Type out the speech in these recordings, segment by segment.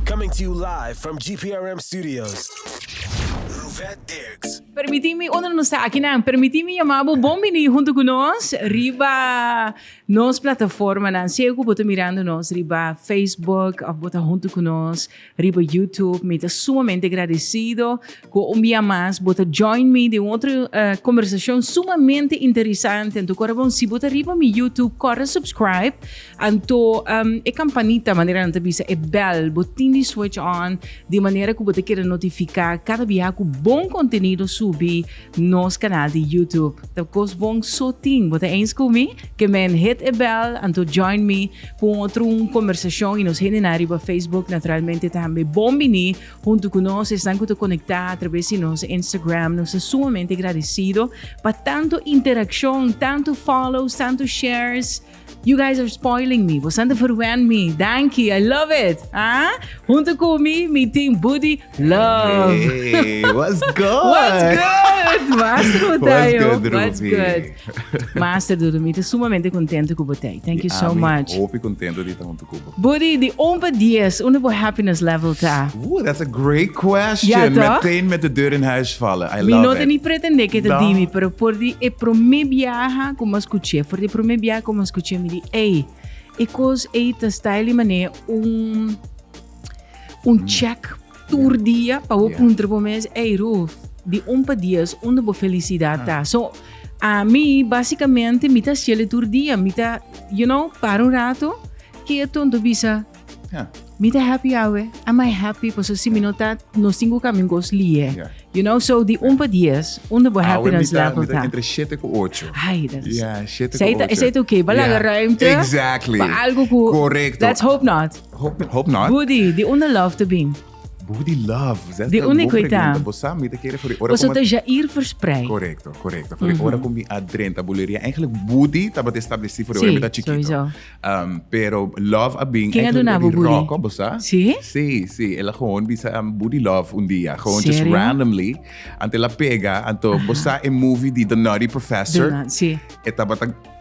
Coming to you live from GPRM studios. Ruvet Dirks. Permití mi, unda nos ta akinan? Permití mi yamá bo bon biní huntu ku nos riba nos plataformanan. Sea ku bo ta mirando nos riba Facebook òf bo ta huntu ku nos riba YouTube, mi ta sumamente gradesido Cu un bia mas bo ta join mi den otro conversacion sumamente interesante. Anto cora bon, si bo ta riba mi YouTube, cora subscribe. Anto e campanita, manera nan ta bisa, e bel, bo tin di switch on di manera cu bo ta keda notifica cada bia cu bon contenido subi nos canal di YouTube. Ta cos bon so tin. Bo ta eens cu mi? Ke men, hit e bel, anto join mi cu un otro un conversacion y nos hendenan riba Facebook naturalmente tambe bon bini. Huntu ku nos esnan ku ta konektá atraves di nos Instagram, nos ta sumamente gradisido pa tantu interakshon, tantu follows, tantu shares. You guys are spoiling me, bosan ta ferwènt mi. Danki, I love it! Ah? Huntu ku mi, mi tin Budi love! Hey, what's good? What's good? Master Botayo. What's good, What's Ruby? good? Master Dudu, mi ta sumamente kontento ku Botay. Thank you so Ami, much. Hopi kontento di ta huntu ku Buddy, di un pa dies, unda bo happiness level ta? Ooh, that's a great question. Ja, toch? Meteen met de deur in huis vallen. I love it. Mi no ta ni pretende ke ta No. di mi, pero for di e promé biaha ku mas kuché, for di e promé biaha ku mas kuché mi di, ey, e kos ey ta style i manera un un check Tur dia pa bo puntra bo mes, ei Ruth, di un pa dies unda bo felicidad ta? So, a mi basicamente mi ta hasieli tur dia, mi ta, you know, para un rato, keto, enton bisa, mi ta happy awe? Am I happy? Paso si mi no ta, nos tin ku kami un kos lie. You know, so di un pa dies, unda bo happiness level ta? Awe mi ta entre shete ku ocho. Ai, dat is. Esei ta oké, bo laga ruimte pa algo ku, let's hope not. Hope, hope not. Budi, di unda love te bin? Budi love. Zes di unda koi ta? Bosa, mi te kere voor ora Bosa ta Jair verspreid. Correcto, correcto. Voor mm -hmm. ora kom mi adrenta buleria. Eigenlijk budi taba te estableci voor sí, mi ta chiquito. Sowieso. Um, pero love a bin. Ken aduna bu budi? Rocco, bosa? Sí? Sí, sí. Ela gewoon bisa um, budi love un dia. Gewoon Serio? just randomly. Ante la pega, anto bosa e movie di The Nutty Professor. Duna, sí. E taba ta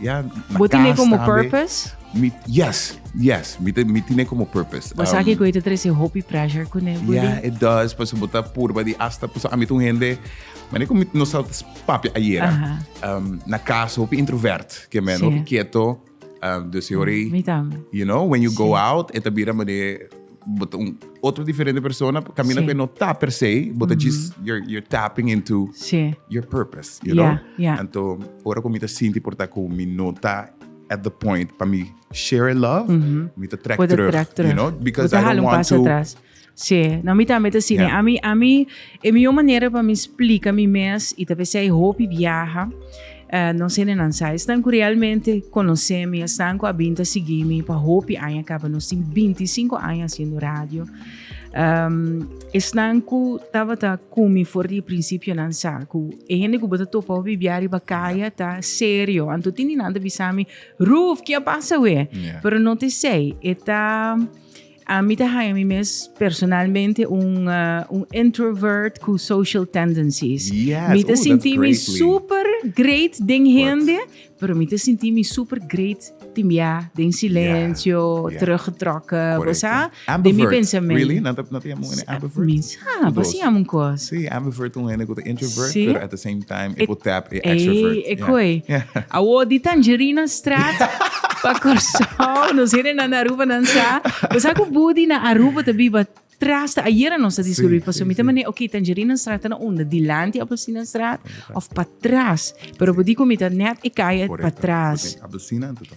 Ya, na Bo tine kas como tambe. purpose? Mi, yes, yes. Mi, te- mi tine como purpose. Bo sa Um, ki ku ita trese hopi pressure kuné, Budi? Ja, het does, pas bo ta purba di hasta pas a met un hende. Mane kom no sal papia ayer. Aha. Um, na casa hopi introvert, ke men Sí. hopi quieto. Um, dus hori. Mi tambe. You know, when you go Sí. out, eta bira mane bo ta un otro diferente persona camina sí. que no ta per se bo ta mm -hmm. just you're, you're tapping into sí. your purpose you yeah, know yeah. anto ora como ta sinti por ta como mi no ta at the point para mi share love mm -hmm. mi ta track terug, terug you know because I don't want to atrás. Sí, no, mi también te cine. Yeah. A mí, a mí, E mihó manera pa mi splika mi mes i ta p'esei ai hopi biaha, nos henenan sa esnan ku realmente konosé mi, esnan ku a bin ta sigui mi pa hopi aña kaba. Nos tin binti i sinku aña hasiendo radio. Esnan ku tabata ku mi for di e prinsipionan sa ku e hende ku bo ta topa hopi biaha riba kaya ta serio. Anto tin di nan ta bisa mi, Ruth, ke a pasa awe? Pero no t'esei. E ta. Ami ta haña mi mes personalmente un introvert cu social tendencies. Yes, mi ta sinti mi super great den hende, pero mi ta sinti mi super great timbia den silencio, yeah, yeah. teruggetrokken, yeah. sa, de mi pensamiento. Really? Nan ta, nan ta ambivert? Ah, Cu dos. passi ami un cos. Sí, ambivert un hende cu ta introvert, Sí. pero at the same time e por tap e extrovert. Ei, e Yeah. koi. Yeah. Awo di tangerina straat pa Curaçao. Nos heren na na Aruba nan sa. Bo sa ku Budi na Aruba ta biba tras ta ayera nos ta Sí, discurrir pa sí, so mi ta sí. mane ok tangerina straat ta na unda dilanti appelsina straat of pa tras. Pero bo di ku mi ta net e kaya pa Correcto. tras. Porque Abelsina, tu ta.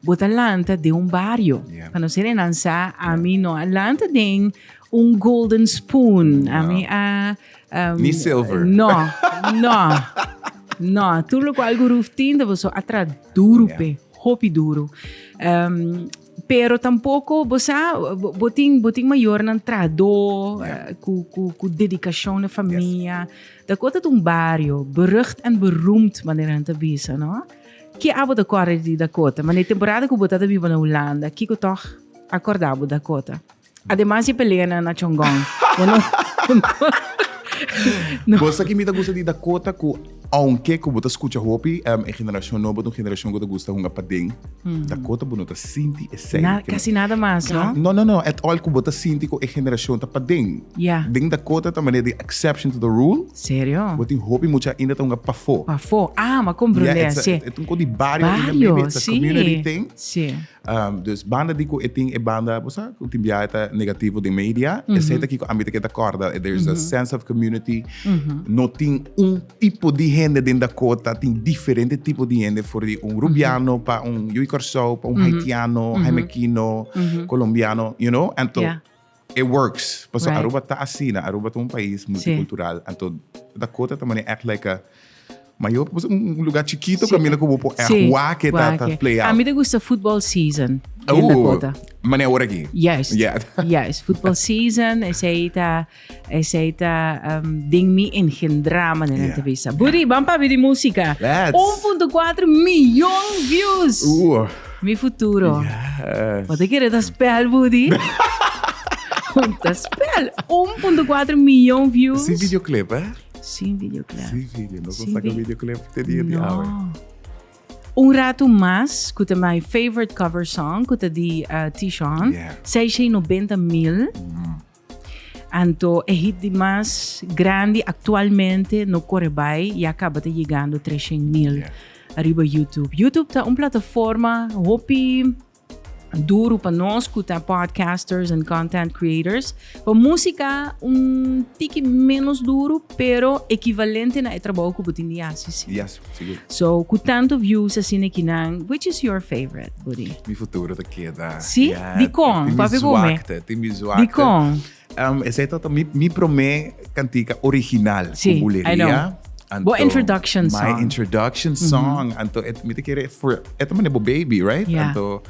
Bo ta lanta den un bario. Yeah. Pa no ser e nan sa, ami no a lanta den un golden spoon. Ami a... Um, Ni silver. No, no. no, tur lo cual guru tinta bo so atra duro yeah. pe, hopi duro. Um, pero tampoco bo sa bo tin bo tin mayor nan trado yeah. uh, cu cu cu dedicación na familia yes. da kota un barrio berucht en beroemd manera te bisa no Ke abo ta kòrda di Dakota? Mane temporada ku bo ta ta biba na Hulanda, kiko tòg a kòrda bo Dakota? Ademas di e peleanan na Chongqong, bo no no. Bo sa ke mi ta gusta di Dakota ku aunke ku bo ta skucha hopi e generashon nobo ta un generashon ku ta gusta hunga paden, Dakota bo no ta sinti esei. Na, kasi nada mas, no? No, no, no, at all ku bo ta sinti ku e generashon ta paden. Ya. Den Dakota ta mane di exception to the rule. Serio? Bo tin hopi mucha ainda ta hunga pafó. Pafó, ah, ma con brulea, sí. Ya, e ta un con di bario ainda, maybe Bario, it's a sí, community thing. sí. Dus banda di cu e tin e banda, bo sa, cu tin biaha e ta negativo den media, esei ta kico ami ta kier ta corda, there is a sense of community, no tin un tipo di hende den Dakota, tin diferente tipo di hende for di un rubiano pa un yu Curaçao, pa un haitiano, Jaimekino, Colombiano, you know, and to. E works, paso Aruba ta asina, Aruba ta un pais multicultural, anto Dakota ta mane echt like a mayor, paso un lugar chikito kaminda ku bo por echt wak ta play out. A mi ta gusta football season den Dakota. Oh, mane ora aki. Juist, juist. Football season, esei ta, esei ta den mi engendra maneran ta bisa. Budi, ban pabi di musika. Let's! Un punto kuater miyon views! Mi futuro. Yes. Wat ik ta spel, Woody? ta spel. 1.4 miljoen views. Sin videoclip, hè? Sin videoclip. Sin video. No kon saca videoclip te dia di awe. Un rato mas, ku te my favorite cover song, ku te di uh, Tishon, yeah. 690 mil. Mm. Anto e hit di mas grandi aktualmente no kore bai, ya kaba ta yegando tres shen mil ariba YouTube. YouTube ta un plataforma hopi duru pa nos ku ta podcasters en content creators. Pa musika un tiki menos duru Pero ekivalente na e trabou ku bo tin di hasi si. Di hasi, sigur. So, ku tantu views asina e kinan, which is your favorite, Buddy? Mi futuro ta keda. Si? Ya, Dikon? tin mi Papia ku me. zwakte, tin mi zwakte. Dikon? Em, esei ta ta mi, mi promé kantika original Si, ku I buleria. know. Anto, Bo introduction My song. introduction song. Anto et mi ta kere for et mane bo baby, right? Ya. Anto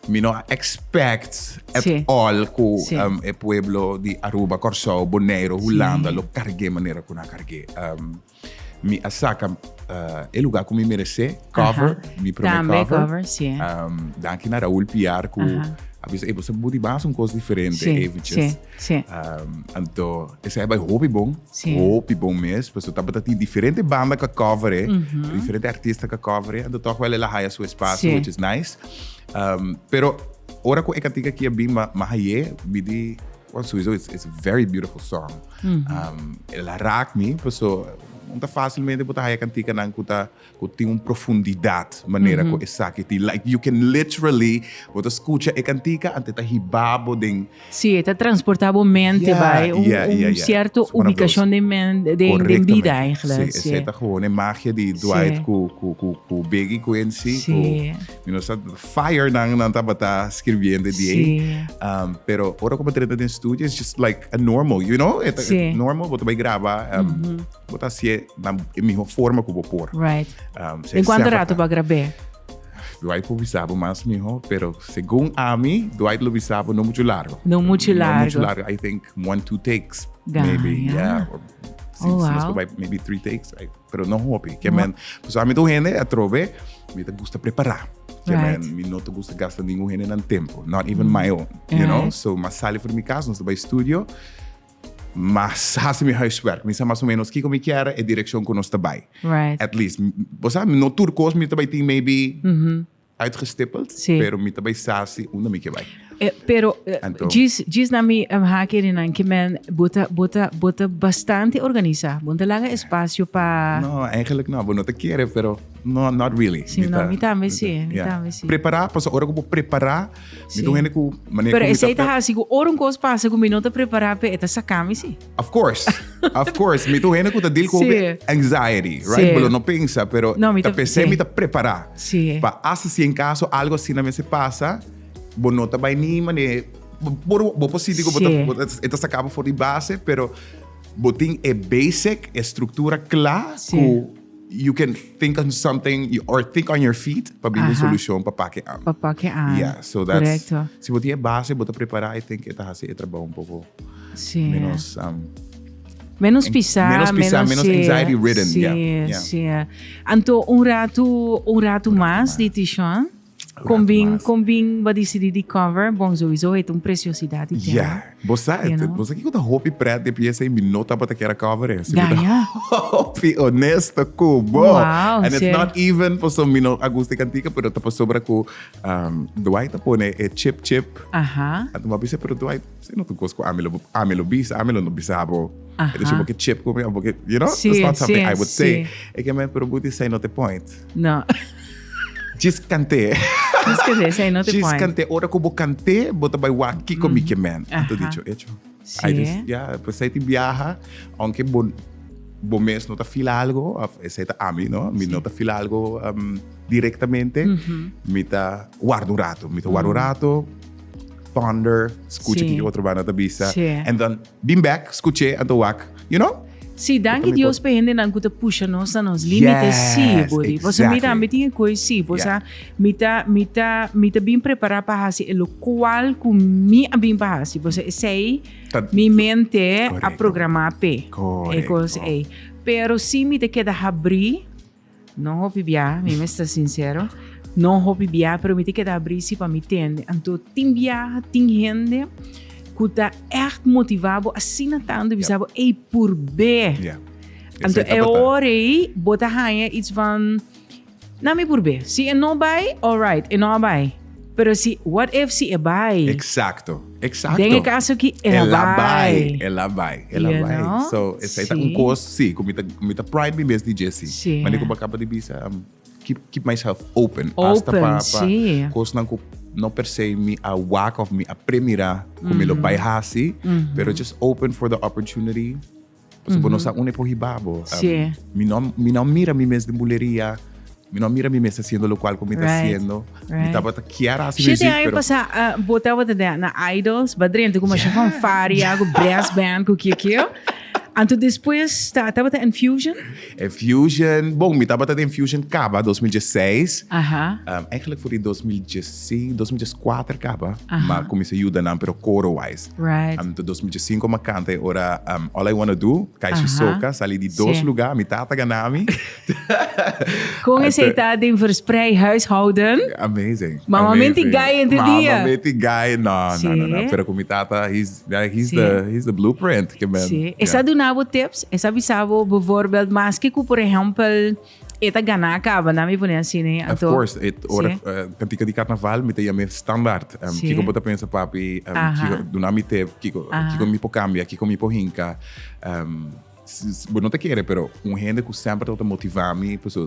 Mi no a expect at all cu e pueblo di Aruba, Corsou, Boneiru, Hulanda lo carge manera cu nan carge. Mi a saca e lugar cu mi merece, cover, mi prome cover. Danki na Raul Piar cu a bisa, ey, bo sa bo di basa un cos diferente eventjes. Sí. Um, anto, esa bai hopi bon, sí. hopi bon mes, pues tapa ta tin diferente banda ka cover, eh, mm -hmm. diferente artista ka cover, eh, anto toch wel ela haya su espacio, sí. which is nice. Um, pero, ora ko eka tika kia bin ma, ma haye, bidi, well, sowieso, it's, it's a very beautiful song. Mm -hmm. um, ela raak mi, pues so, unta fácilmente puta haya kantika nan kuta Cu tin un profundidad manera cu esaki tin. Like you can literally, bo ta scucha e cantica antes ta hiba bo den. Si, e ta transporta bo mente bay un cierto ubicacion den bida eigenlijk. Si, esey ta gewoon e magia di Dwight cu Biggie cu en si. Cu mi no sa fire nan nan tabata scribiendo die. Pero ora cu bo trata den studio it's just like a normal, you know? Normal bo ta bay graba. Bo ta hasié na e mihó forma ku bo por. Right. Um, si e Kuantu sèp a ratu ta- pa grab'é? Dwight por bisa bo mas mihó, pero segun ami, Dwight lo bisa bo no muchu largo. No muchu No muchu largo. largo. I think one, two takes. Ga, maybe, ya. yeah. Or, si, Oh, si nos wow. probai, maybe three takes. I- pero no hopi. Ke men, pues a mi tu hende atrobe, mi ta gusta prepará. Ke Right. men, mi no ta gusta gasta ningun hende nan tempo. Not even my own. You Yeah. know? So, mas sali for mi kas, nos ta bai studio. Mas hasi mi huiswerk. Mi sa mas o menos kiko mi kier, e direkshon ku nos ta bai. At least. Bo sa, no tur kos mi ta bai tin maybe uitgestippeld, pero mi ta bai sa si unda mi ke bai. Pero djis na mi haki ri nan ke men, bo ta, bo ta, bo ta bastante organisa. Bo ta laga espasio pa. No, eigenlik no. Bo no ta kere, pero no, not really. Si, no, mi tambe si. Mi tambe si. Prepara, pasobra ku bo prepara. Mi ta un hende ku mané Pero esei ta hasi ku ora un kos pasa ku mi no ta prepará p'e, e ta saká mi si. Of course, of course. Mi ta un hende ku ta deal ku hopi anxiety, right? Bo lo no pensa, pero ta p'esei mi ta prepará. Pa hasta si en kaso algo asina mester pasa, bo no ta bai ni mané, bo por sinti ku bo ta, e ta saká bo for di base, pero bo tin e basic, e struktura kla ku. you can think on something you, or think on your feet pa bini Aha. solucion pa pake an. Pa pake an. Yeah, so that's Correcto. si bo tiene base, bo ta prepara, I think eta hace e trabajo un poco sí. menos um, Menos pisar, menos pisar, menos sí, anxiety ridden. Sí, yeah, yeah. sí. Anto un rato, un rato más, más. di Tishon. Con bin, con bin bo a dicidi di cover? Bon, souiso het un preciosidad di tema. Ja, bo sa, you know. bo sa kico ta hopi pret de piensa y mi no tabata kier a cover e. Si mi ta hopi honesto cu bo. Wow, And it's sher. not even paso mi no a gusta e cantica, pero ta pasobra cu um, Dwight a pone e chip chip. Aha, Anto mi a bisa, pero Dwight, si no tu cos cu ami lo, ami lo bisa, ami lo no bisa bo. Aha. E dice, bo ke chip cu mi, bo ke, you know? Sí, That's not something sí, I would say. sí. E ke men, pero bo di say not the point. No. Djis kant'é. Djis kant'é, sey not the point. Djis kant'é, ora ku bo kant'é, bo ta bai wak kiko mi ke mènt. Aha. Anto dicho hecho. Sí. Ai dus dia, pues sey tin biaha, aunke bo bo mes no ta feel algo, of esei ta ami, no? Mi no ta feel algo directamente, mi ta warda un rato, mi ta warda un rato, ponder, skucha kiko otro banda ta bisa, and dan. Bin bek, skuché, anto wak, you know? Sí, danki Dios pa e hendenan ku ta pusha nos na nos límite, sí, Yes, Body. Pasobra mi exactly. tambe tin e koe, sí, pues Yeah. a mi ta, mi ta, mi ta bin prepará pa hasi e lokual ku mi a bin pa hasi. Pues esei Ta- mi mente a Correcto. programá p'e e Correcto. kos ei. Pero sí mi ta keda habrí No hopi bia, mi mester sincero. No hopi bia, pero mi ta keda abri si pa mi tende. Anto tin biaha, tin hende cu ta echt motiva bo asina tanto bisa bo ey purbe. Anto e ora ey bo ta haya iets van na mi purbe. Si e no bay, alright, e no a bay. Pero si, what if si e bai? Exacto, exacto. Den e caso aki, el a bai. El a bai, el a bai. You know? So, esai ta un cos, si, cu mi ta, mi ta pride mi mes di dje, si. Si. Ma di cu bo a caba di bisa, um, keep, keep myself open. Open, si. Hasta pa, pa cosnan cu no per se mi a wak of mi a premira cu mi lo bai haci, pero just open for the opportunity. Paso mm -hmm. nos a une por hibabo. Um, sí. mi, no, mi no mira mi mes de bulería. Mi no mira mi mes haciendo lo cual como right. está haciendo. Right. Mi estaba quiera así Siete años pero... pasa, uh, ah, botaba de na idols, badrente como yeah. van faria, con brass band, con kio kio. Anto depois tá, tava tá Infusion? Infusion, bom, me tava tá Infusion caba 2016. Aham. Uh -huh. um, eigenlijk voor die 2016, 2014 caba, uh -huh. maar comecei ajuda na pero coro wise. Right. Um, ta 2005 ma canta e ora um, All I Wanna Do, Kaishi Aha. Soka, sali di dos Sí. lugar, mi tata ganami. Con ese está de verspreid huishouden. Amazing. Mama amazing. meti guy in the Mama dia. meti guy, no, no, Sí. no, no. Pero con mi tata, he's, yeah, he's, Sí. the, he's the blueprint. Que men, Sí. yeah. Esa dunabo tips, esa bisabo bijvoorbeeld, maski ku por ejempel E ta gana caba na mi pone así, né? Of course, e ora sí. uh, cantica di carnaval mi te llame standaard. Um, sí. Kiko bota pensa papi, um, Aha. kiko duna mi te, kiko, Aha. kiko mi po cambia, kiko mi po hinca. Um, bo no te quiere, pero un gente que sempre te motiva mi, pues,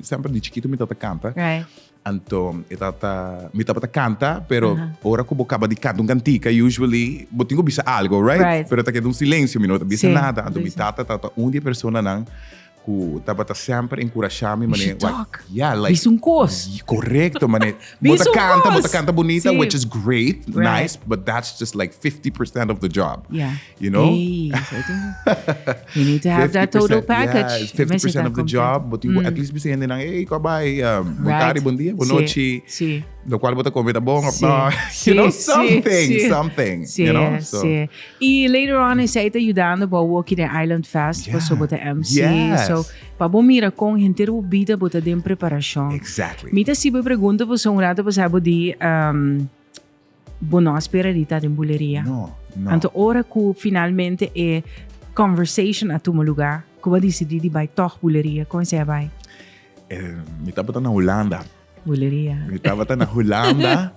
sempre de chiquito mi te canta. Right. Anto e tata, mi tabata kanta, pero Aha. ora ku bo kaba di kanta un kantika, usually bo tin ku bisa algo, right? Right. Pero ta keda un silencio, mi no ta bisa Sí, nada. Anto mi bisa. tata tabata un di e personanan ku tabata semper enkurashá mi, You mané, should "Wai, talk. ya, like, Bisa un kos. Y correcto, mané. Bo Bisa ta un canta, bo ta kos. canta bonita, Sí. which is great, Right. nice, but that's just like 50% of the job. Yeah. You know? Hey, you need to have that total package. Yeah, 50% of the job. But you mm. at least bisa hindi nang, hey, kabay, um, right. buntari, bom dia, boa noite. Sí. Lo cual bota comida bom, sí. no. Sí. You know, something, sí. something. Sí. You know? So. Sí. Y later on, is hij ayudando para Walkie the Island Fest, yeah. so bota MC. Yes. So, pa bo mira con gente bo vida bota den preparación. Exactly. Mita si bo pregunta, pues un rato, pues hij bo di, um, Bo no a spera di ta den buleria. No, no. Anto ora cu finalmente e conversation a tuma luga, cu bo a dicidi di bay tog buleria, cu hesey a bay? Eh, mi tabata na Hulanda. Buleria. Mi tabata na Hulanda.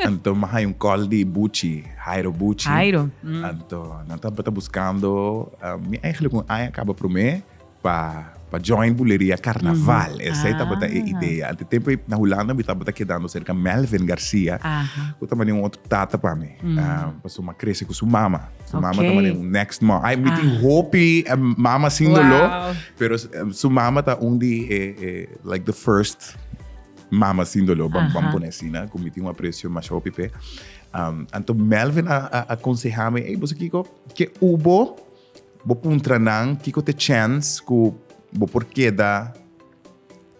Anto mi a hay un call di Buchi, Hairo Buchi. Hairo. Anto nan tabata buscando, mi eigenlijk un aña caba prome, Pa pa join buleria carnaval esey tabata e idea anto tempo ey na hulanda mi tabata kedando cerca melvin garcia cu ta mane un otro tata pa mi pasobra mi a crece cu su mama su mama ta mane un next mom ay mi tin hopi mama sin dolor pero su mama ta un di e like the first mama sin dolor bam bam pone asi na cu mi tin un aprecio masha hopi p'e anto melvin a aconsehami ey boso kico ke ubo. Bo puntra nan kiko ta e chèns ku bo por keda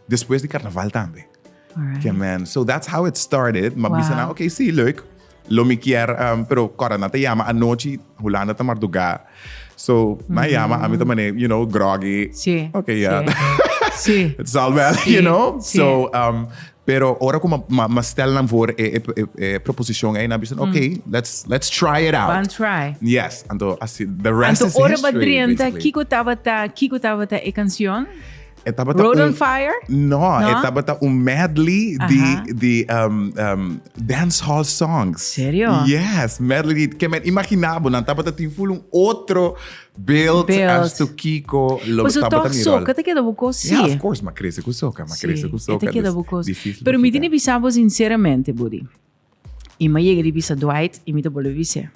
despues di karnaval tambe. Ke men. So that's how it started. Ma bisa nan, okay, sí, leuk. Lo mi kier, um, pero kòrda nan ta yama anochi, Hulanda ta mardugá. So, nan yama, ami ta manera, you know, groggy. Sí. Okay, ya. Sí. It's all well, you know. So, um, Pero ora ku ma stèl nan for e proposishon ei, nan bisa no ok, let's let's try it out. Ban try. Yes, anto asi the rest is history. Anto ora ba drenta kiko tabata kiko tabata e kanshon? E tabata Road on Fire? No, e tabata un medley di di dance hall songs. Serio? Yes, medley di ke men imaginá bo nan tabata tin full un otro Beeld as to Kiko lo Por su tampa ta toch mi rol. soca ta keda bo cos, Ya, of sí. course, ma crece cu soca, ma crece cu Sí, e soca. ta keda dus bo cos. difícil Pero pa mi kita. tene bisa bo sinceramente, Budi. I ma yega di bisa Dwight, i mi ta bolbe bis'e.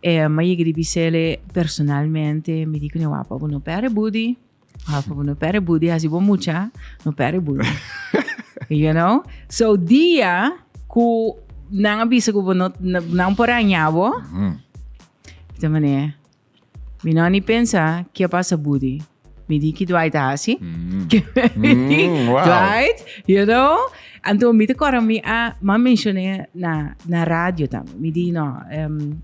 E ma yega di bis'ele personalmente, mi di cune wak pa bo no pere, Budi. Ah, papu, no pere budi hasi bo mucha, no pere budi. you know? So, dia ku nan a bisa ku bo no, nan por haña bo, mm. ta mané, mi no ni pensa ke pasa budi. Mi di ki Dwight a hasi. Mm. mi di, mm, wow. Dwight, you know? Anto mi te kora mi a, ma mencioné na, na radio también. Mi di, no, um,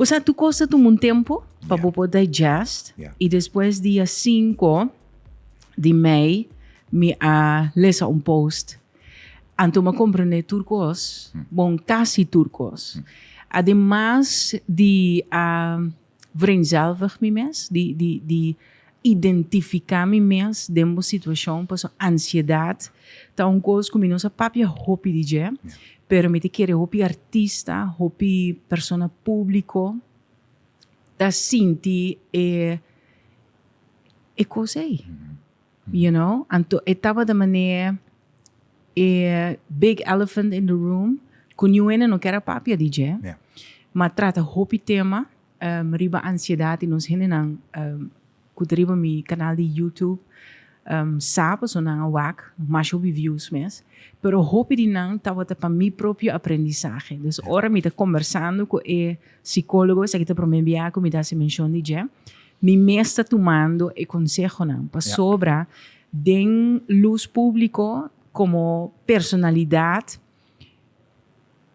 Osea tur cos ta tuma un tempo pa bo por digest y despues dia cinco di mei mi a lesa un post anto mi a comprende tur cos, bon casi tur cos. Ademas di a vrenzelvig mi mes, di identifica mi mes den bo situacion paso ansiedad ta un cos cu mi no sa papia hopi di dje pero mi ta kere hopi artista hopi persona publico ta sinti e e cos ey you know anto e tabata mane e big elephant in the room cu niuwene no ker a papia di dje ma trata hopi tema Riba ansiedat y nos hendenan cu ta riba mi canal di YouTube sa paso nan a wak mas hopi views mes, pero hopi di nan tabata pa mi propio aprendizahe. Dus ora mi ta conversando cu e psicologo, esaki ta prome bia cu mi ta haci mencion di dje, mi mes ta tumando e consehonan pasobra den luz publico como personalidad,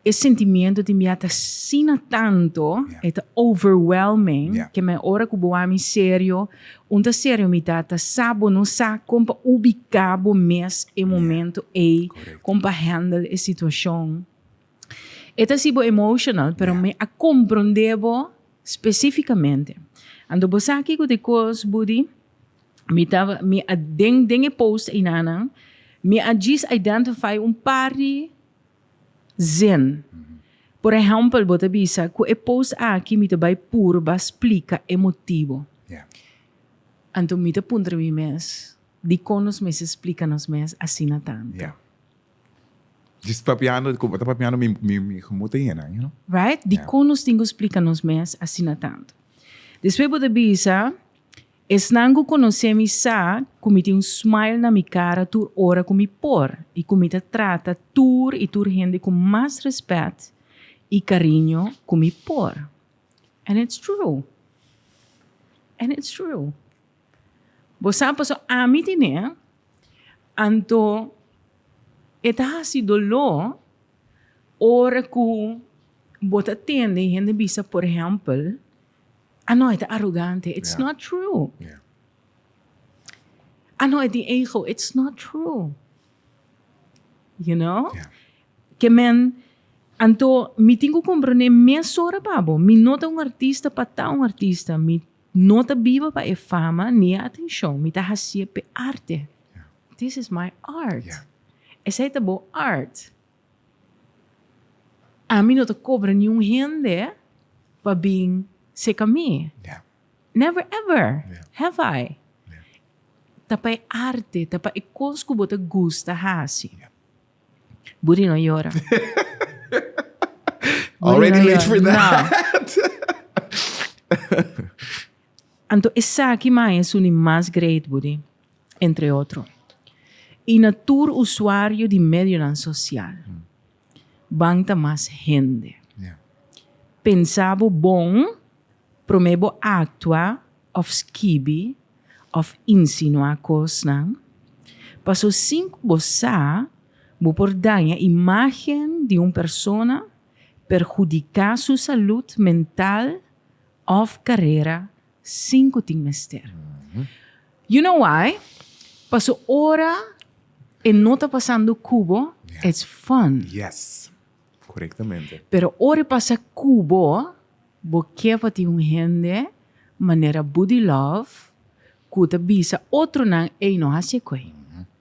E sentimiento di mi a ta sina tanto, yeah. e ta overwhelming, yeah. que me ora ku bo ami serio, un ta serio mi ta ta sabo no sa kom pa ubica bo mes e momento yeah. e, kom pa handle e situacion. E ta si bo emotional, pero yeah. me a comprende bo specificamente. Ando bo sa ki ku te kos, Budi? Mi ta mi a den den e post einanan mi a jis identify un par di zin. Por ejempel, bo ta bisa ku e post aki mi ta bai purba splika e motibo. Yeah. Anto mi ta puntra mi mes, dikon nos mester splika nos mes asina tantu? Yeah. Jis papiando, ku bo ta papiando mi mi mi gemu ta yena, you know. Right? Yeah. Dikon nos tin ku splika nos mes asina tantu? Despues bo ta bisa Esnan cu conoce mi sa cu mi tin un smile na mi cara tur ora cu mi por y cu mi ta trata tur y tur hende cu mas respet y cariño cu mi por. And it's true. And it's true. Bo sa paso ami tene, anto e ta haci dolor ora cu bo ta tende y hende bisa, por ehempel, Ah no, e ta arogante. It's not true. Ah no, e tin ego. It's not true. You know? Ke men, anto mi tin ku komprondé mesora pa bo. Mi no ta un artista pa ta un artista. Mi no ta biba pa e fama ni e atenshon. Mi ta hasié p'e arte. This is my art. Esei ta bo art. Ami no ta cobra ni un hende pa bin seca mi. Never ever have I. Ta pa e arte, ta pa e cos cu bo ta gusta haci. Buri no yora. Already late for that. Anto esaki mae su ni mas great budi, entre otro, y na tur usuario di medionan social. Ban ta mas hende. Pensa bo bon prome bo actua of skibi of insinua cosnan, paso sin cu bo sa bo por daña imagen di un persona, perhudica su salud mental Of carera sin cu tin mester. You know why? Paso ora e no ta pasando cubo, it's fun. Yes. Corectamente. Pero ora e pasa cubo, bo ke pa tin un hende manera Buddy Love cu ta bisa otronan, ey, no haci e koe.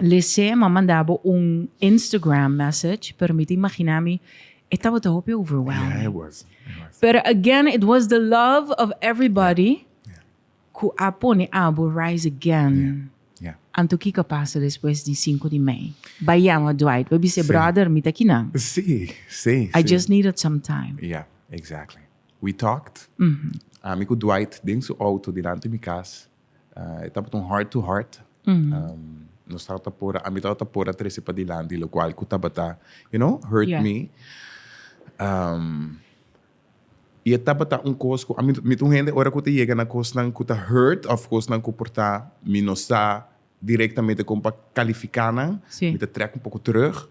Lise m'a manda bo un Instagram message, pero mi ta imagina mi e tabata hopi overwhelming. Yeah, it was. It was. Pero again, it was the love of everybody yeah. Yeah. ku a pone abo rise again. Yeah. Anto kiko pasa despues di 5 di mei? Ba yama Dwight, ba bise, brother, mi ta kinan. Si, si. I just needed some time. Yeah, exactly. We talked. Mm-hmm. Ami ku Dwight den su auto dilanti mi kas. E tabata un heart to heart. Nos tabata por a, ami tabata por a trece padilanti locual cu tabata, you know, hurt mi. Y e tabata un cos cu ami, mi ta un hende ora cu ta yega na cosnan cu ta hurt of cosnan cu por ta mi no sa directamente como pa califica nan, mi ta trek un poco terug.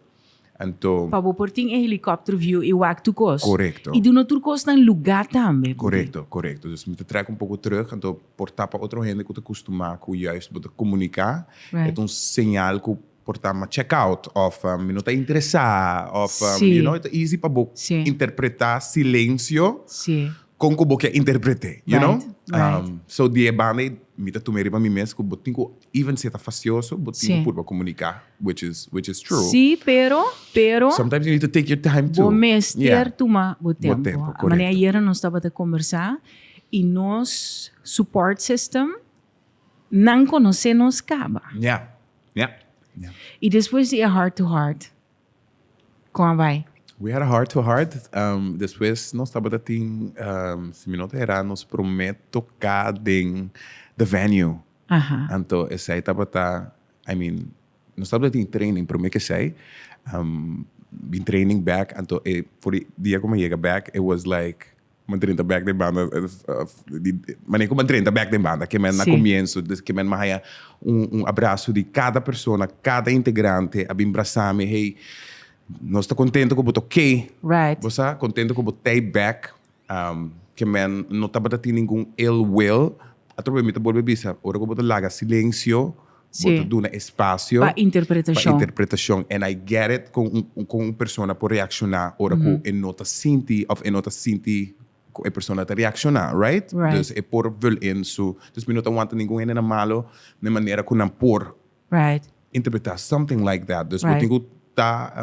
Anto. Pa bo por tin e helicopter view y wak tur cos. Correcto. Y duna tur cos nan luga tambe. Correcto, correcto. Dus mi ta track un poco terug, anto por ta pa otro hende cu ta custuma cu juist bo ta comunica, e ta un señal cu por ta ma check out of mi no ta interesa of, you know, e ta easy pa bo interpreta silencio Con cu bo kier interprete, you know? Right, right. Um, so die banda ei, mi ta tumeri pa mi mes cu bo tin cu, even si e ta facioso, bo tin Sí. cu purba comunica, which is, which is true. Sí, pero, pero, Sometimes you need to take your time too. bo mester Yeah. tuma bo tempo. tempo, A correcto. manera ayer nos tabata conversa, y nos support system, nan conoce nos caba. Yeah, yeah. Y después di e heart to heart, Kon a bai? We had a heart to heart, despues nos tabata tin, si mi no ta herá, nos promé toká den the venue. Anto esei tabata, I mean, nos tabata tin training promé ke esei, bin training bek, anto e for di dia ku mi a yega bek, it was like Bo drenta bek den banda di manera ku bo drenta bek den banda ke men na komienso ke men a haña un abraso di kada persona kada integrante a bin brasa mi hey nos ta kontento ku bo ta oke bo sa kontento ku bo tei bek ke men no tabata tin ningun ill will atrobe mi ta bolbe bisa ora ku bo ta laga silensio. Bo ta duna espasio. Pa interpretashon. Pa interpretashon. And I get it kon un persona por reakshoná ora ku e no ta sinti òf e no ta sinti ku e persona ta reakshoná, right? Right. Dus e por vul in su. Dus mi no ta wanta ningun hende nan malu den manera ku nan por Right. interpretá something like that. Dus bo tin ku ta.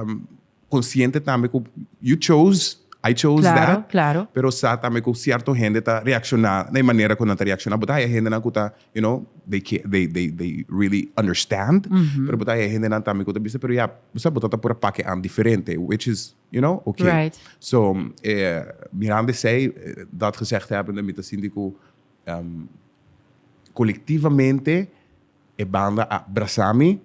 consciente tambe cu you chose, I chose that. Claro, claro. Pero sa tambe cu cierto hende ta reacciona na e manera cu nan ta reacciona. Bo ta haya hendenan cu ta, you know, they care, they, they, they really understand. Pero bo ta haya hendenan tambe cu ta bisa, pero ya, bo sa bo ta ta por a pake an diferente, which is, you know, okay. Right. So, eh, mirando esey, dat gezegd hebbende, mi ta sinti cu, ehm, colectivamente. E banda a brasa mi.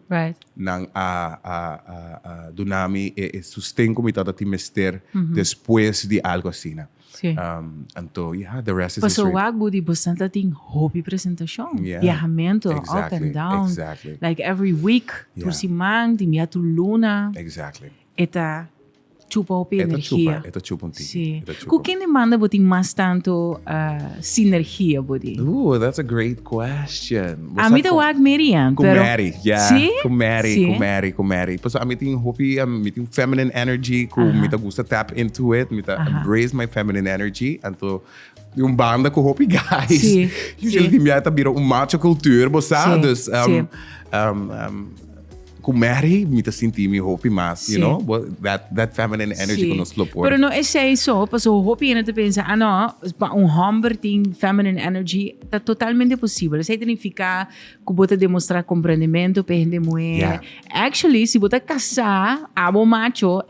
Nan a duna mi e sosten ku mi tabata tin mester despues di algu asina. Anto ya, the rest is history. Paso wak bo di bo sa ta tin hopi presentashon, biahamentu, up and down, like every week, tur siman, tin bia tur luna. E ta chupa hopi energia. E ta chupa un tiki. Si. Ku ken di banda bo tin mas tantu sinergia bo di? Ooh, that's a great question. Bo a mi ta wak Mary an. Ku pero, Mary, yeah. Si? Ku Mary, si? ku Mary, ku Mary. Paso a mi tin hopi, a mi tin feminine energy ku uh-huh. mi ta gusta tap into it. Mi ta uh-huh. embrace my feminine energy. Anto di un banda ku hopi guys. Si. Usually si. tin bia ta bira un macho cultuur, bo sa. Si. Dus um, si. um, um, Ku Mary mi ta sinti mi hopi mas, you know, but that, that feminine energy ku nos lo por. Pero no esei so, paso hopi hende ta pensa, ah no, pa un homber tin feminine energy, ta totalmente posibel. Esei ta nifiká ku bo ta demostra komprendementu pe hende muhé. Actually, si bo ta kasá, abo macho,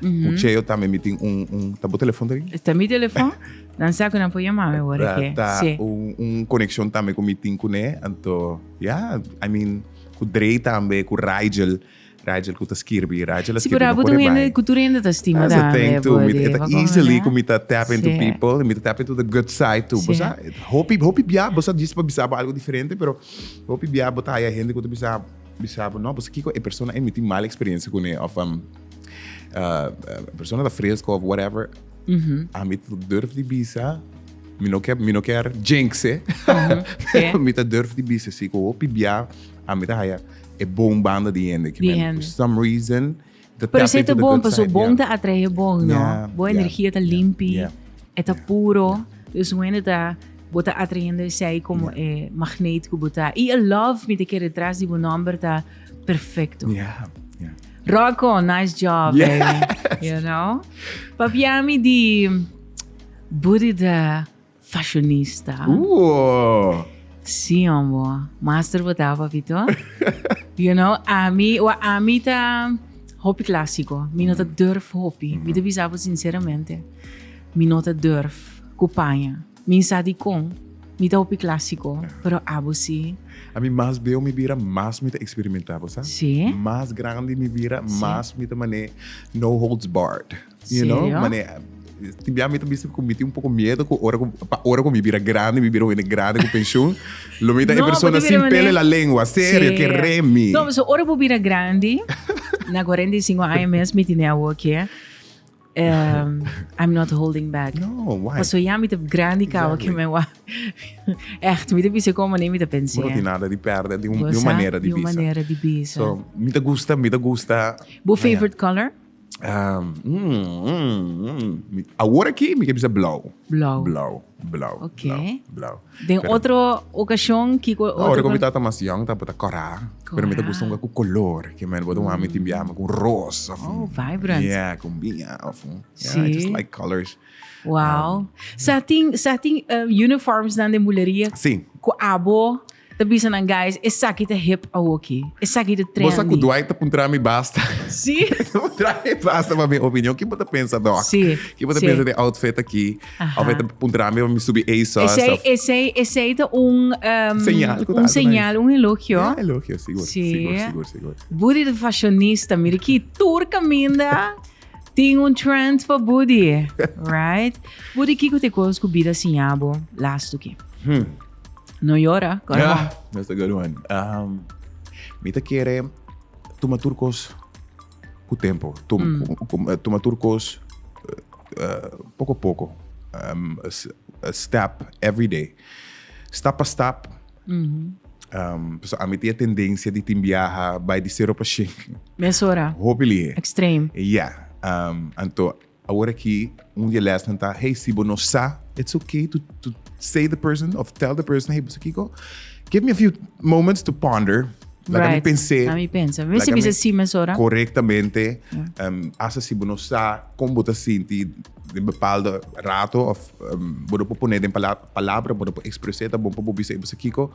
Ku Cheo tambe mi tin un, un, ta bo telefon ta rin? Ta mi telefon, nan sa ku nan por yama mi ora ke. Ta un, un konekshon tambe ku mi tin kuné, anto ya, I mean, ku Dre tambe, ku Rigel, Rigel ku ta skirbi, Rigel a skirbi, no por e bai. Si por abo ta un hende ku tur e hende ta stima tambe, body. That's the thing too, e ta easily ku mi ta tap into people, mi ta tap into the good side too, bo sa, hopi, hopi bia bo sa djis pa bisa bo algu diferente, pero hopi bia bo ta haya hende ku ta bisa, bisa bo, no, bo sa kiko, e persona ei mi tin mal eksperensia kuné, of. uh, persona ta fresco of whatever. Mm -hmm. A mi durf di bisa, mi no quer, mi no quer jinxe. Mm -hmm. yeah. mi ta durf di bisa, si ko hopi bia, a mi ta haya e bon banda di hende. Di hende. For some reason, the Pero se te bon, paso bon ta atrae bon, no? Yeah, bon yeah, energia ta yeah, limpi, yeah, eta yeah, puro. Yeah. Dus un hende ta bota atrayendo zij como yeah. eh, magneet que bota. Y a love mi te quiere detrás de un nombre ta perfecto. Yeah. Rocco, nice job, yeah. baby. You know? Papiami di booty de fashionista. Ooh. Si, hombo. Master bota, papito. you know, ami, wa ami ta hopi clásico. Mi no ta mm. durf hopi. Mm. Mi te bisa sinceramente. Mi no ta durf. Kupanya. Mi sa dikon, mi ta hopi clásico, pero abo si? A mi mas beo mi bira mas mi ta experimenta bo sa. Sí. Mas grandi mi bira sí. mas mi ta mané no holds barred. You Serio? know? Mané tin bia mi ta bisti ku mi tin un poko miedo ku ora ku pa ora ku mi bira grandi, mi bira wene grandi ku pensioen, lo mi ta no, e persona sin pele la lengua. Serio, ke remi. No, so ora bu bira grandi, na 45 aña mes mi tine awo ke Um, I'm not holding back. No, why? Paso ya mi te grandi kawa exactly. ke me wa. Echt, mi te bisa como maneira mi te pensé. No tiene nada de perder de un, de un manera de bisa. De un manera de bisa. So, mi te gusta, mi te gusta. Bo favorite color? Um, mm, mm, mm. Agora aqui, mi te bisa blauw. Blauw. Blauw. Blauw, blauw, blauw. Den otro ocasion, kico otro? Ora cu mi tata mas jong, ta bota cora. Pero mi ta gusta un cu color. Ke men bota un ami tin biaha cu roos. Oh, vibrant. Yeah, cu binha. Yeah, I just like colors. Wow. Sa tin, sa tin uniforms dan den buleria? Si. Cu abo? Ta bisa nan, guys, esaki ta hip awoki. Esaki ta trendy. Bo sa ku Dwight ta puntra mi basta. Sí. ta puntra mi basta pa mi opinion. Kin bo ta pensa, Doc? Sí. Kin bo ta sí. pensa de outfit aki? Aha. Of e ta puntra mi pa mi subi ASOS? Esei, of... esei, esei ta un... Um, señal. Un señal, un elogio. Ja, elogio, sigur. Sí. Sigur, sigur, sigur. Budi de fashionista. Mira ki tur kaminda. Tin un trend pa Budi. Right? Budi, kiko te kos ku bida siñabo lastuki? Hmm. No llora, Carmon. That's a good one. Um, mi te quiere tuma tur cos cu tempo. Tum, mm. cu, cu, eh, tuma tur cos uh, eh, poco a poco. Um, a, a step every day. Step a step. Mm -hmm. um, so, a mi tem a tendência de te viajar by de 0 para 5. Mesora. Hopefully. Extreme. Yeah. Um, então, Awor aki un di e lèsnan ta, hey, si bo no sa, it's ok to to say the person of tell the person, hey, Kiko, give me a few moments to ponder. Laga mi Right. pensé. Laga mi pensa. Mi si Laga bisa mi- sí mes ora. Correctamente. Um, hasta si bo no sa con bo ta sinti den bepaalde rato of um, bo no por poner den pala- palabra, bo no por expresar, ta bon pa bo bisa, hey, bisa Kiko,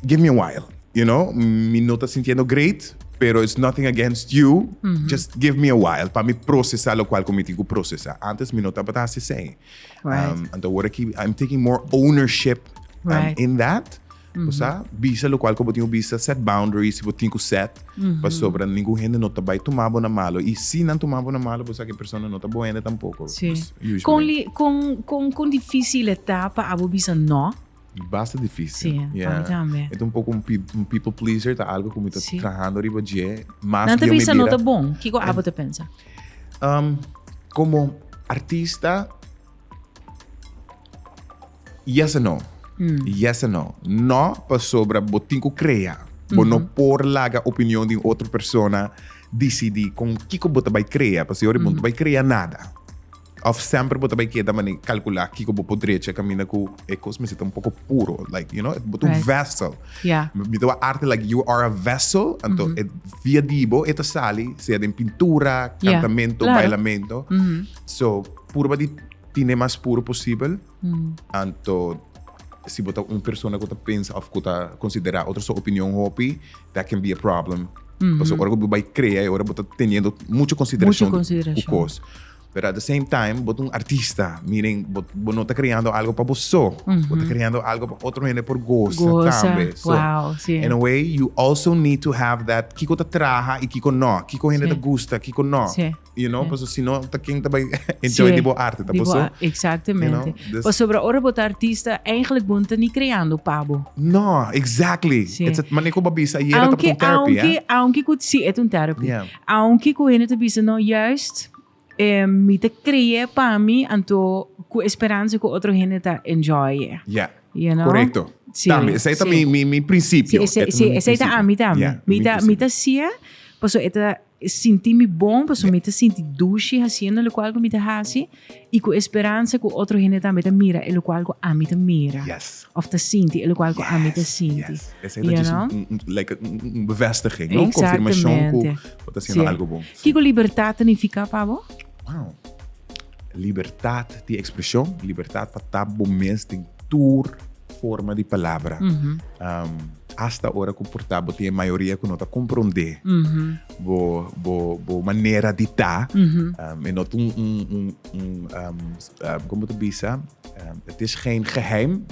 give me a while, you know, mi no ta sintiendo great, pero it's nothing against you, just give me a while pa mi procesa lokual ku mi tin ku procesa. Antes mi no tabata hasi esei. Right. Um, anto wor aki, I'm taking more ownership um, Right. in that. Bo sa, bisa lokual ku bo tin ku bisa, set boundaries, si bo tin ku set, pasobra ningun hende no ta bai tuma bo na malo. I si nan tuma bo na malo, bo sa ki persona no ta bo hende tampoko. Sí. Pues, usually. Kon, li, kon, kon, kon difícil e ta pa abo bisa no? Basta difícil. Sí, pa mi tambe. E ta un poco un, people pleaser, ta algo como está sí. trabajando arriba dje. Más no te piensa no está bon. ¿Qué cosa abo te piensa? Um, como artista, yes and no. Mm. Yes and no. No, pa sobra, bo tinko crea. Bo mm -hmm. no mm-hmm. por laga opinión de otra persona decidi con kiko bo te vai crea. Pa si ori mm -hmm. bo te vai crea nada. Of semper bo ta bay keda mane calcula kiko bo por drecha camina cu e cos mester ta un poco puro. Like, you know, e bo ta un Right. vessel. Yeah. Mi tawa arte like you are a vessel, anto Mhm. e via dibo e ta sali, sea den pintura, Yeah, cantamento, claro. bailamento. Mhm. So, purba di tine mas puro posibel, Mm. anto si bo ta un persona cu ta pensa of cu ta considera otro so opinion hopi, that can be a problem. Mhm. Paso ora cu bo bay crea, e ora bo ta teniendo mucho consideracion Mucho consideracion. cu cos. Pero at the same time, bo ta un artista. Meaning, bo, bo no ta creando algo pa bo so. Mm -hmm. Bo ta creando algo pa otro hende por goza, goza. tambe. So, wow, sí. in a way, you also need to have that kiko ta traha y kiko no. Kiko hende sí. ta gusta, kiko no. Sí. You know, sí. paso si no, ta ken ta bai enjoy sí. di bo arte, ta boso. Exactamente. You know, this... Paso, bro, ora bo ta artista, eigenlijk bo ta ni creando pa bo. No, exactly. Sí. It's a, maneko babisa, aunque, ta un therapy, aunque, eh? aunque, aunque, sí, it's un therapy. Yeah. Aunke ku hende ta bisa no juist, mi ta creé pa mi anto ku e speransa ku otro hende ta enjoy e. Ya. You know? Korekto. Si, Tambe, esei ta si. mi, mi, mi prinsipio. Si, esei, si, esei ta ami tambe. Ya, mi, ta, mi ta sié paso e ta sinti mi bon, paso mi ta sinti dushi haciendo locual cu mi ta haci. I ku e speransa ku otro hende tambe ta mira elokual ku ami ta mira. Yes. Òf ta sinti elokual ku ami ta sinti. Yes, yes. Esei ta djis un, un, un, like un, un, un bevestiging, no? Un konfirmashon ku Eksaktamente. bo ta hasiendo Sier. algu bon. Si. Kiko libertat ta nifiká pa bo? Wow. Libertat di ekspreshon, libertat pa ta bo mes den tur forma di palabra. Asta ora ku por ta bo tin e mayoria ku no ta komprondé. Bo bo bo manera di ta e no ta un un un un como ta bisa het is geen geheim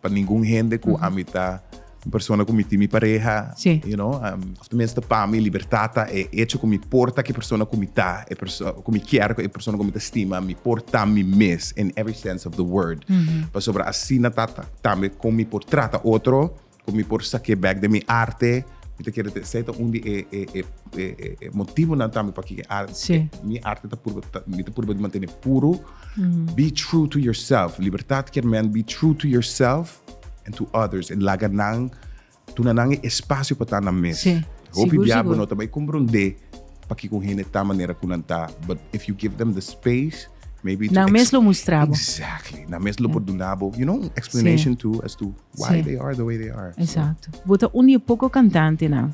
pa ningun hende ku ami ta un persona ku mi tin mi pareha you know of ta minste pa mi libertad ta e hecho ku mi por ta ki persona ku mi ta e persona ku mi kier e persona ku mi ta stima mi por ta mi mes in every sense of the word pasobra asina ta tambe kon mi por trata otro. Cu mi por sak'e bek den mi arte, mi ta kere esey ta un di e motibunan tambe p'aki mi arte ta purba ta, mi ta purba di mantene puru. Be true to yourself, Libertad kier men be true to yourself and to others en laga nan, duna nan e espacio pa ta nan mes. Hopi bia bo no ta bay comprende p'aki cu un hende ta manera cu nan ta but if you give them the space, Maybe nan mes lo mustrabo. Exactly. Nan mes lo por dunabo, you know, explanation sí. too as to why sí. they are the way they are. Exacto. So. Bota un die poco cantante na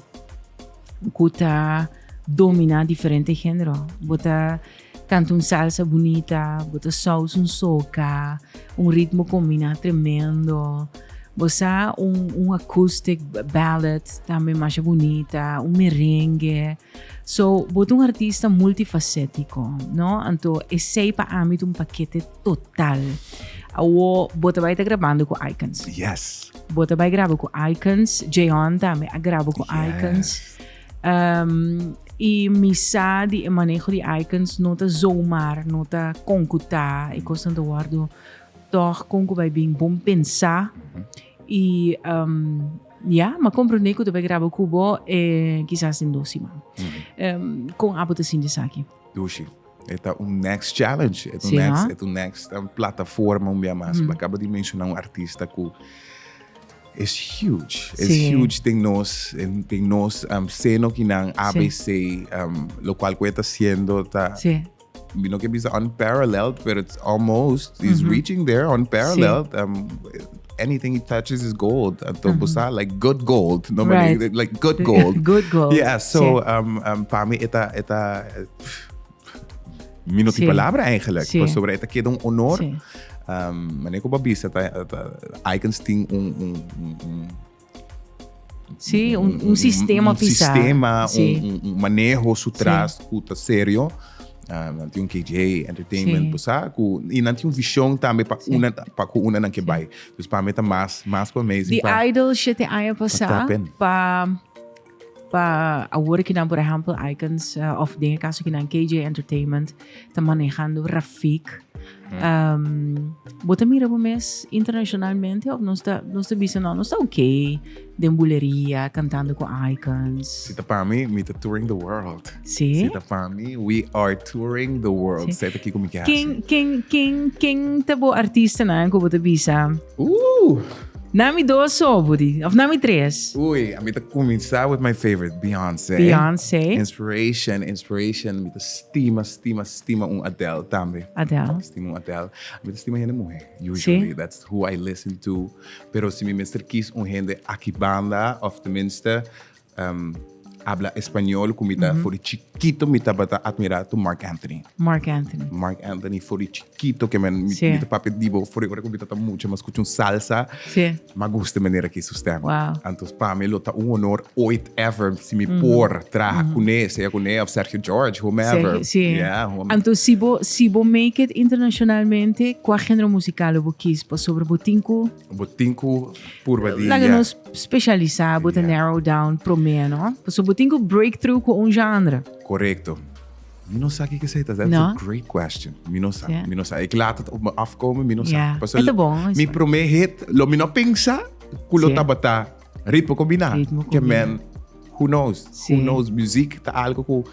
kuta domina diferente género. Bota canta un salsa bonita, bota saus un soca, un ritmo combina tremendo. Bosa un, un acoustic ballad también más bonita, un merengue. So bo ta un artista multifacético, no? Anto esei pa ami ta un pakete total. Awo bo ta bai ta grabando ku Icons. Yes. Bo ta bai graba ku Icons, Jeon tambe a graba ku Yes. Icons. Um, y mi sa di e manejo di Icons no ta zomaar, no ta kon ku ta, e kosnan ta wòrdu tòg kon ku bai bin bon pensá y um, Ya, m'a komprondé ku ta bai graba ku bo e kisas den dos siman. Kon abo ta sinti esaki? Dushi, e ta un next challenge, e ta un next, e ta un next plataforma un bia mas. Bo a kaba di menshoná un artista ku es huge, es huge den nos, den nos seno kinan abc, lokual ku e ta hasiendo ta. Mi no ke bisa unparalleled, pero it's almost. He's mm-hmm. reaching there unparalleled. Sí. Um, anything he touches is gold. Anto mm-hmm. busa like good gold. No, right. like, like good gold. good gold. Yeah, so sí. um, um, para mí eta, eta uh, mi no sí. palabra eigenlijk. Sí. Pues sobre eta queda un honor. Sí. Um, manejo babisa, ta, ta, Icons ting un, un, un, un Sí, un, un sistema un pisá. sistema, Sí. un, un- un manejo su tras cu ta serio. Ah, nan tin un KJ Entertainment, Sí. pues, ah, cu, y nan tin un visión también pa Sí. una, pa cu una nan que Sí. bai. Dus pa mi ta mas, mas pa amazing. Di pa- Idol siete aña pasá tapen. pa Pa awor ki nan por ehempel Icons of den e caso ki nan KJ Entertainment ta manejando Rafik. Um, bo ta mira bo mes internacionalmente of nos ta, nos ta bisa no, nos ta ok den buleria, cantando con Icons. Si ta pa mi, mi ta touring the world. Sí. Si ta pa mi, we are touring the world. Sí. Seta kiko mi ke Ken, ken, ken, ken ta bo artista na ko bo te bisa? Uh! Nami dos so, Budi. Of nami tres. Ui, a mi ta kuminsá with my favorite, Beyoncé. Beyoncé. Inspiration, inspiration. Mi ta stima, stima, stima un Adele tambe. Adele. Stima un Adele. Mi ta stima hende muhé, usually. Sí. That's who I listen to. Pero si mi mester kis un hende aki banda, of tenminste, habla español cu mi ta for di chiquito mi tabata admira to Marc Anthony. Mark Anthony. Mark Anthony for di chiquito que men mi, Sí. mi ta papia dibo for di ora cu mi tata mucho mas escucha un salsa Sí. ma gusta manera que su stem. Wow. Antos pa mi lo ta un honor ooit ever si mi por traha cune, sea cune of Sergio George, whomever. Sí. Yeah, whomever. Anto si bo si bo make it internacionalmente, cua género musical lo bo kies? Pasobra bo tin cu Bo tin ku purba di Laga nos speshalisá bo ta narrow down promé, no? Pasobra bo tin ku break through ku un genre. Korekto. Mi no sa kiko esei ta. That's a great question. Mi no sa. Mi no sa. E ke later ta op mi afkome, mi no sa. Mi promé hit, lo mi no a pensa ku lo tabata. Ritmo combina. Ritmo combina. Que men, who knows? Sí. Who knows? Muziek ta algo cu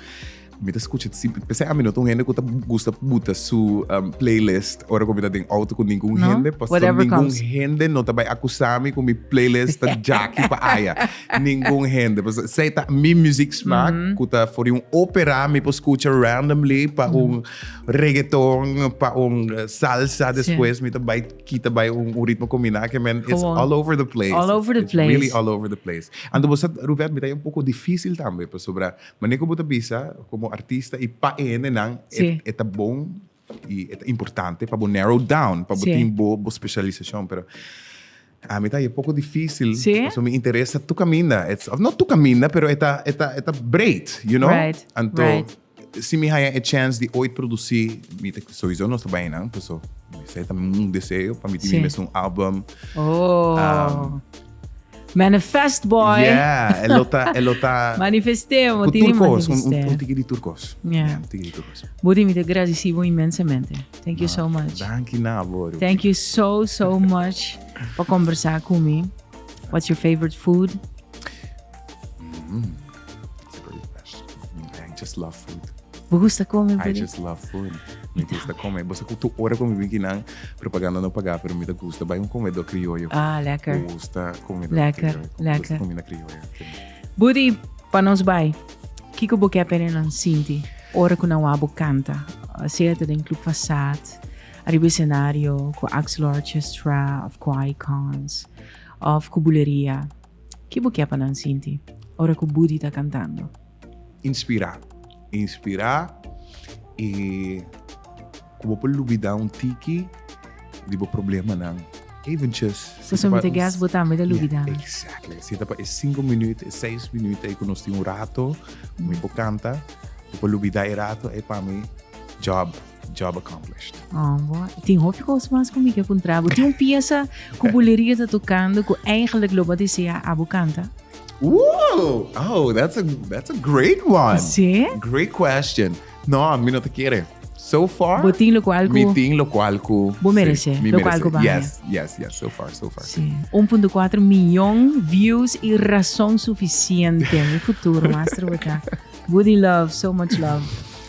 mi ta escucha siempre. Pese a mi no ta un hende cu ta gusta buta su um, playlist ora cu mi ta den auto cu ningún no? hende. Pas ningún comes. hende no ta bay acusar mi cu mi playlist ta jaki pa aya. ningún hende. Pas zij ta mi muziek smaak mm -hmm. cu ta voor un opera mi pa escucha randomly pa mm -hmm. un reggaeton, pa un salsa. Después sí. mi ta bay Kita bai un ritmo combina aki men it's all over the place. All over the place. It's really all over the place. Anto bo sa Ruvet mi ta e un poco dificil tambe pasobra mane cu bo ta bisa como artista y pa e hende nan e ta bon y e ta importante pa bo narrow down pa bo tin bo specialisacion pero ami ta e poco dificil pasobra mi interes ta tuk caminda of not tuk caminda pero e ta breed you know anto Si mi haya e chance di ooit produci, mi ta sowiso nos ta bai nan, paso esei ta un deseo pa mi tin mi mes un album. Oh. Manifest boy. Yeah, e lo ta, e lo ta. Manifestemo, Ku tini turkos, un, manifesté. un, un tiki di turkos. Yeah. Yeah, un tiki di turkos. Budi mi ta gradeci bo inmensamente. Thank you so much. Danki na bo. Rubi. Thank you so so much pa conversa cu mi. What's your favorite food? I just love food. Bo gusta come boli? I just love food. Mi gusta come. Bosa cu tu ora con mi wiki nan, propaganda no paga, pero mi ta gusta bai un comedor criollo. Ah, lekker. Gusta comedor lekker, criollo. Lekker. Gusta comida criollo. Budi, pa nos bai, kiko bo ke pene nan sinti ora cu nan wabo canta? Sea ta den Club Fasad, arriba escenario, cu Axel Orchestra, of cu Icons, of cu Buleria. Ki bo ke pa nan sinti ora ku Budi ta kantando? Inspirá. Inspirá i ku bo por lubidá un tiki di bo problemanan. Eventjes. Ta sumete gast bo tambe ta lubidá. Ya, exactly. Si ta pa e sinku minüt, e seis minüt ei ku nos tin un rato, mi por kanta, mi por lubidá e rato ei pa mi job. job accomplished. Oh, boa. Tin hopi cos mas cu mi que contra. Bo tin un pieza cu buleria ta tocando cu eigenlijk lo ba desea abo canta? Ooh, oh, that's a that's a great one. Sí? Great question. No, mi no te quiere. So far, Bo tin lo cual cu... mi tin lo cual cu Bo merece, sí, mi lo cual cu baja. Yes, yes, yes. So far, so far. Sí. 1.4 millón views y razón suficiente. Mi futuro, maestro, boca. Woody Love, so much love.